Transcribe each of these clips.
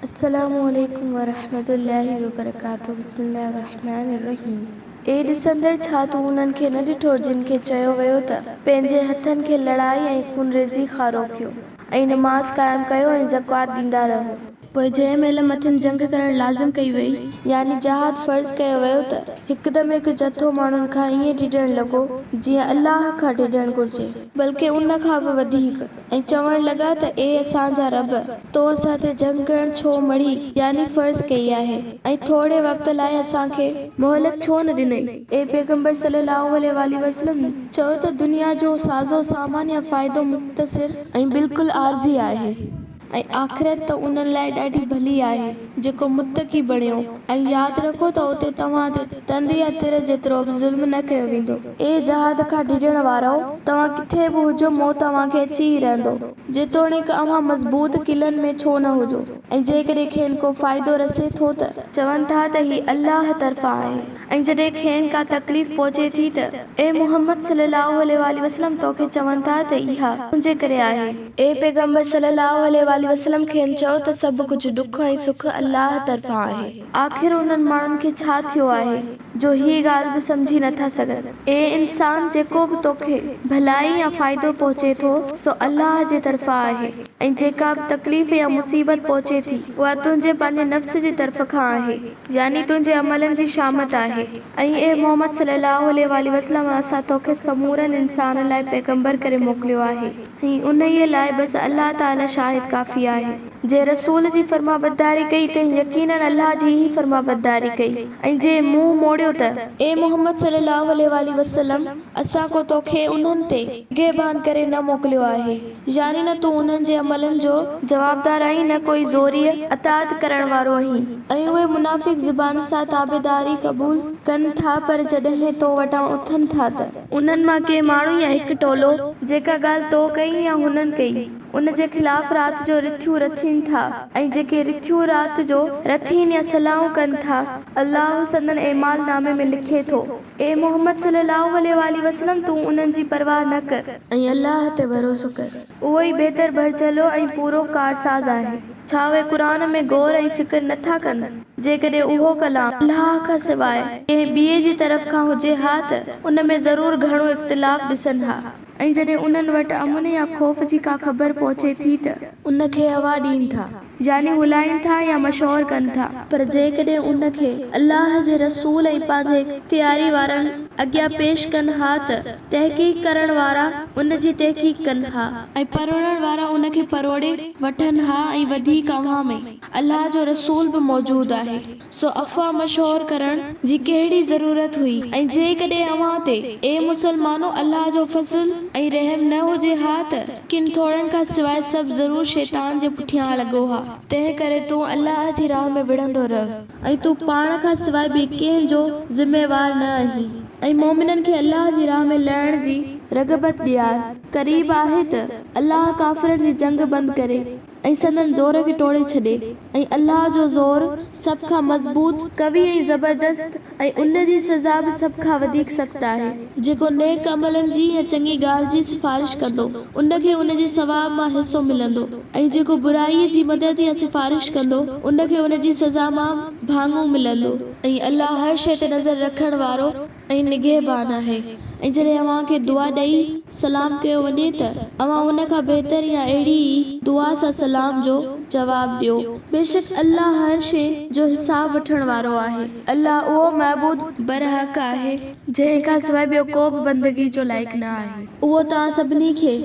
السلام عليڪم ورحمة الله وبرڪاته بسم الله الرحمٰن الرحيم اي ڏسندڙ ڇا تون انهن کي نه ڏٺو جن کي چيو ويو ته پنهنجي هٿن کي لڙائي ۽ خونريزي کان روڪيو ۽ نماز قائم ڪيو ۽ زڪوات ڏيندا رهو. پوء جنهن مهل مٿن جنگ ڪرڻ لازم ڪئي وئي يعني جهاد فرض ڪيو ويو ته هڪدم هڪ جٿو ماڻهن کان ائين ڊڄڻ لڳو جيئن الله کان ڊڄڻ گهرجي بلڪه ان کان به وڌيڪ ۽ چوڻ لڳا ته اي اسان جا رب! تو اسان تي جنگ ڪرڻ ڇو مڙهي، يعني فرض ڪئي آهي، ۽ ٿورڙي وقت لاء اسان کي. مهلت ڇو نه ڏنئي؟ اي پيغمبر صلّي اللّٰه عليه واٰله وسلّم! چؤ ته دنيا جو سازو سامان يا فائدو مختصر ۽ بالڪل عارضي آهي، ۽ آخرت ته انهن لاء ڏاڍي ڀلي آهي. جيڪو متقي بڻيو ۽ ياد رکو ته اتي توهان تي تند يا تر جيترو به ظلم نه ڪيو ويندو. اي جهاد کان ڊڄڻ وارؤ! توهان ڪٿي به هجو موت اوهان کي اچي ئي رهندو، جيتوڻيڪ اوهان مضبوط قلعن ۾ ڇو نه هجو ۽ جيڪڏهن کين ڪو فائدو رسي ٿو ته، چون ٿا ته هي الله طرفان آهي ۽ جڏهن کين ڪا تڪليف پهچي ٿي ته، اي محمد صلي الله عليه واٰله وسلم توکي چون ٿا ته اها تنهنجي ڪري آهي. اي پيغمبر صلّي اللّٰه عليه واٰله وسلّم کين چئو ته سڀ ڪجهه ڏک ۽ سک الله طرفان آهي. آخر انهن ماڻهن کي ڇا ٿيو آهي جو هي ڳالهه به سمجهي نه ٿا سگهن. اي انسان جيڪو به توکي ڀلائي يا فائدو پهچي ٿو سو الله جي طرفان آهي ۽ جيڪا به تڪليف يا مصيبت پهچي ٿي اها تنهنجي پنهنجي نفس جي طرف کان آهي يعني تنهنجي عملن جي شامت آهي. ۽ اي محمد صلّي اللّٰه عليه واٰله وسلّم اسان توکي سمورن انسانن لاء پيغمبر ڪري موڪليو آهي. ۽ انهيء لاء بس الله تعاليٰ شاهد ڪافي آهي. جنهن رسول جي فرمانبرداري ڪئي تنهن يقيناً الله جي ئي فرمانبرداري ڪئي ۽ جنهن منهن موڙيو ته. اي محمد صلّي اللّٰه عليه واٰله وسلّم! اسان ڪو توکي انهن تي. نگهبان ڪري نه موڪليو آهي. يعني نه تون انهن جي عملن جو. جوابدار آهين نه ڪوئي زوريء اطاعت ڪرڻ وارو آهين. ۽ اهي منافق زبان سان تابعداري قبول. ڪن ٿا پر جڏهن تو وٽان اٿن ٿا ته. انهن مان ڪي ماڻهو يا هڪ ٽولو جيڪا ڳالهه تو ڪئي يا هنن ڪئي، ان جي خلاف رات جو رٿيون رٿين ٿا ۽ جيڪي رٿيون رات جو رٿين يا صلاحون ڪن ٿا، الله سندن اعمال نامي ۾ لکي ٿو. اي محمد صلي الله عليه وآله وسلم! تون انهن جي پرواهه نه ڪر. ۽ الله تي ڀروسو ڪر. اهو ئي بهتر ڀرجهلو ۽ پورو ڪارساز آهي. ڇا اهي قرآن ۾ غور ۽ فڪر نه ٿا ڪن؟ جيڪڏهن اهو ڪلام الله کان سواء ڪنهن ٻئي جي طرف کان هجي ها ته ان ۾ ضرور گهڻو اختلاف ڏسن ها. ۽ جڏهن انهن وٽ امن يا خوف جي ڪا خبر پهچي ٿي ته. ان کي هوا ڏين ٿا. يعني ڳولائين ٿا يا مشهور ڪن ٿا. پر جيڪڏهن ان کي الله جي رسول ۽ پنهنجي اختياري وارن اڳيان پيش ڪن ها ته تحقيق ڪرڻ وارا ان جي تحقيق ڪن ها. ۽ پروڙڻ وارا ان کي پروڙي وٺن ها ۽ وڌيڪ اوهان ۾ الله جو رسول به موجود آهي. سو افواهه مشهور ڪرڻ جي ڪهڙي ضرورت هئي ۽ جيڪڏهن اوهان تي، اي مسلمانو، الله جو فضل ۽ رحم نه هجي ها ته ڪن ٿورن کان سواء سڀ ضرور شيطان جي پٺيان لڳو ها، تنهن ڪري تون الله جي راهه ۾ وڙهندو رهه ۽ تون پاڻ کان سواء ٻئي ڪنهن جو ذميوار نه آهين ۽ مؤمنن کي الله جي راهه ۾ لڙڻ جي رغبت ڏيار قريب آهي ته الله ڪافرن جي جنگ بند ڪري ۽ سندن زور کي ٽوڙي ڇڏي ۽ الله جو زور سڀ کان مضبوط، قوي ۽ زبردست ۽ ان جي سزا به سڀ کان وڌيڪ سخت آهي. جيڪو نيڪ عملن جي يا چڱي ڳالهه جي سفارش ڪندو، ان کي ان جي ثواب مان حصو ملندو ۽ جيڪو برائيء جي مدد يا سفارش ڪندو، ان کي ان جي سزا مان ڀاڱو ملندو. ۽ الله هر شيء تي نظر رکڻ وارو ۽ نگهبان آهي ۽ جڏهن اوهان کي دعا ڏئي سلام ڪيو وڃي ته اوهان ان کان بهتر يا اهڙي ئي دعا سان سلام جو جواب ڏيو. بيشڪ الله هر شيء جو حساب وٺڻ وارو آهي. الله اهو معبود برحق آهي. جنهن کان سواء ٻيو ڪو به بندگي جو لائق نه آهي. اهو توهان سڀني کي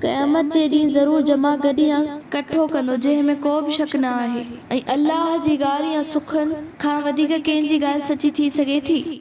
قيامت جي ڏينهن ضرور جمع گڏ يا ڪٺو ڪندو جنهن ۾ ڪو به شڪ نه آهي ۽ الله جي ڳالهه يا سخن کان وڌيڪ ڪنهن جي ڳالهه سچي ٿي سگهي ٿي؟